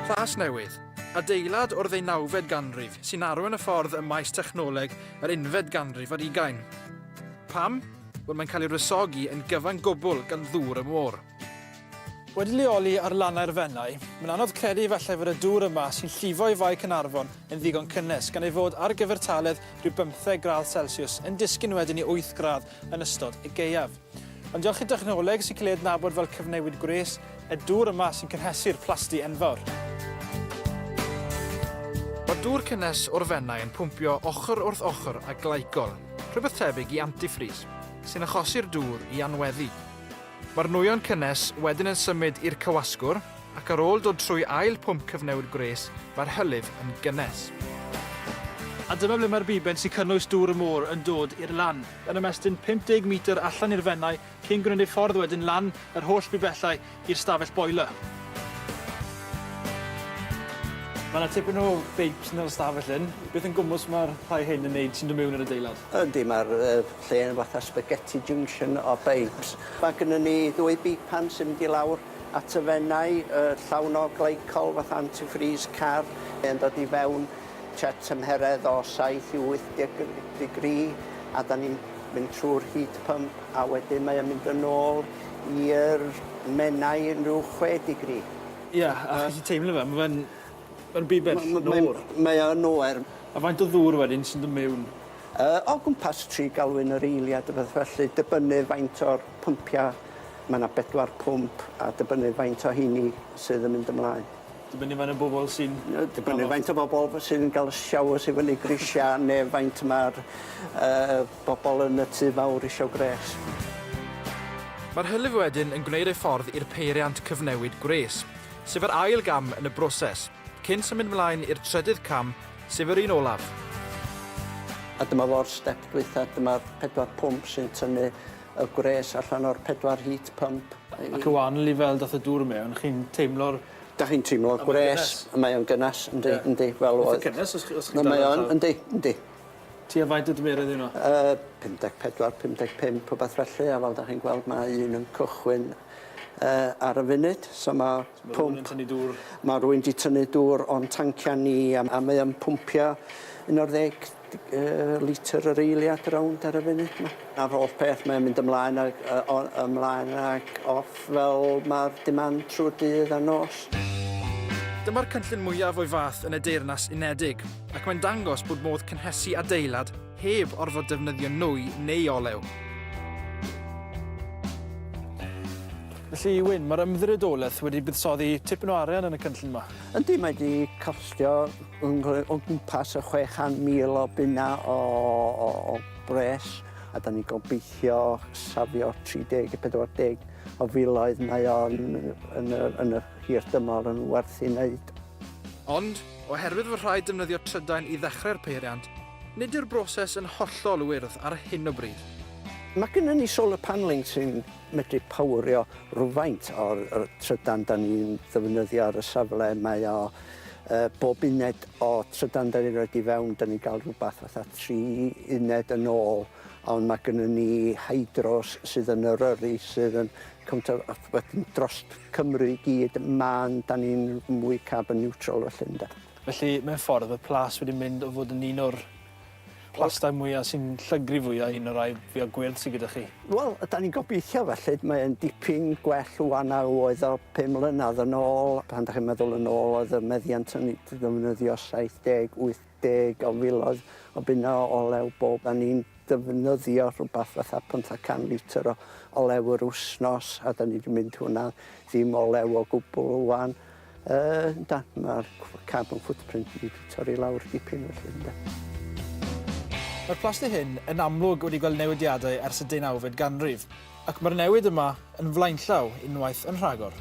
Plasnewydd, adeilad o'r ddeunawfed ganrif sy'n arwain y ffordd ym maes technoleg yr unfed ganrif ar ugain. Pam? Wel mae'n cael ei wresogi yn gyfan gwbl gan ddŵr y môr. Wedi lleoli ar lannau'r Fenai, mae'n anodd credu efallai fod y dŵr yma sy'n llifo i Fae Caernarfon yn ddigon cynnes gan ei fod ar gyfertaledd rhyw bymtheg gradd celsiws yn disgyn wedyn i wyth gradd yn ystod y gaeaf. Ond diolch i'r dechnoleg sy'n cael ei adnabod fel cyfnewid gwres, y dŵr yma sy'n cynhesu'r plasty enfawr. Mae'r dŵr cynnes o'r fennau yn pwmpio ochr wrth ochr â glycol, rhywbeth tebyg i antifreeze, sy'n achosi'r dŵr i anweddu. Mae'r nwyon cynnes wedyn yn symud i'r cywasgwr, ac ar ôl dod trwy ail pwmp cyfnewid gwres, mae'r hylif yn gynnes. A dyma ble mae'r biben sy'n cynnwys dŵr y môr yn dod i'r lan. yn ymestyn 50 metr allan i'r Fenai cyn gwneud ei ffordd wedyn lan yr holl bibellau i'r stafell boiler. Mae yna tipyn o beips yn yr ystafell hyn. Beth yn gwmws mae'r rhai hyn yn wneud sy'n dod mewn i'r adeilad? Yndi, mae'r uh, lle yn fatha spaghetti junction o beips. Mae gennym ni ddwy beipan sy'n mynd i lawr at y fennau, uh, llawn o glycol fatha antifreeze car, yn dod i fewn tua tymheredd o saith i wyth deg digri a 'dan ni'n mynd trw'r heat pump a wedyn mae o'n mynd yn ôl i'r Menai yn ryw chwe digri. Ia, a chi 'llu teimlo fe, ma' fe'n ma'n rhy bell yn oer. Mae'n mae o yn oer. A faint o ddŵr wedyn sy'n do' mewn? Yy o gwmpas tri galwyn yr eiliad a beth felly dibynnu faint o'r pympia', ma' 'na bedwar pwmp a dibynnu faint o 'heini sydd yn mynd ymlaen. Dibynnu faint o bobol sy'n... Yy dibynnu faint o bobol f- sy'n ga'l y showers i fyny grisia ne' faint ma'r yy bobol yn y tŷ fawr isio gwres. Mae'r hylif wedyn yn gwneud ei ffordd i'r peiriant cyfnewid gwres, sef yr ail gam yn y broses, cyn symud mlaen i'r trydydd cam, sef yr un olaf. A dyma fo'r step dwytha, dyma'r pedwar pwmp sy'n tynnu y gwres allan o'r pedwar heat pump. Ac o wan lifel dath y dŵr mewn, chi'n teimlo'r Dach chi'n teimlo gwres. Mae o'n gynnes yndi yndi fel oedd. Itha cynnes os chi os chi'n Mae o'n yndi yndi. Tua faint o dymerydd yw wnna? Yy 54 55 rhwbath felly a fel 'dach chi'n gweld ma' un yn cychwyn yy ar y funud so ma' pump... Ma' rywun yn tynnu dŵr. Ma' rywun 'di tynnu dŵr o'n tancia ni a a mae o'n pwmpio un o'r ddeg Yy litr yr eiliad rownd ar y funud 'ma. A'r holl peth mae'n mynd ymlaen ag yy o ymlaen ag off fel ma'r demand trw'r dydd a nos. Dyma'r cynllun mwyaf o'i fath yn y Deyrnas Unedig, ac mae'n dangos bod modd cynhesu adeilad heb orfod defnyddio nwy neu olew. Felly, Wyn, mae'r ymddiriedolaeth wedi buddsoddi tipyn o arian yn y cynllun 'ma. Yndi mae 'di costio yn rhoi o gwmpas y chwe chan mil o bunna o o o bres a 'dan ni'n gobeithio safio tri deg i pedwar deg o filoedd mae o'n yn y yn y hir dymor yn werth 'i neud. Ond, oherwydd fod rhaid defnyddio trydan i ddechrau'r peiriant, nid yw'r broses yn hollol wyrdd ar hyn o bryd. Mae gynnon ni solar panelling sy'n medru powrio rhywfaint o'r y trydan 'dan ni'n ddefnyddio ar y safle mae o yy bob uned o trydan 'dan ni'n roid i fewn 'dan ni'n ga'l rwbath fatha tri uned yn ôl ond ma' gynnon ni hydros sydd yn Eryri sydd yn cymaint o a wedyn drost Cymru i gyd ma'n 'dan ni'n mwy carbon neutral felly ynde? Felly mewn ffordd ma' plas wedi mynd o fod yn un o'r Plastai mwya sy'n llygru fwya un o rai fwya gwyrdd sy gyda chi? Wel, ydan ni'n gobeithio felly. Mae e'n dipyn gwell ŵan na oedd o pum mlynadd yn ôl. Pan 'dach chi'n meddwl yn ôl oedd y meddiant o'n i'n ddefnyddio 70, 80 o filoedd o bunna o olew bob. O'n i'n defnyddio rhwbath fatha pymthag can litr o olew yr wsnos a 'dan ni 'di mynd hwnna ddim olew o gwbwl ŵan. Yndan, mae'r carbon footprint wedi torri i lawr dipyn felly, ynde. Mae'r plasty hyn yn amlwg wedi gweld newidiadau ers y deunawfed ganrif, ac mae'r newid yma yn flaenllaw unwaith yn rhagor.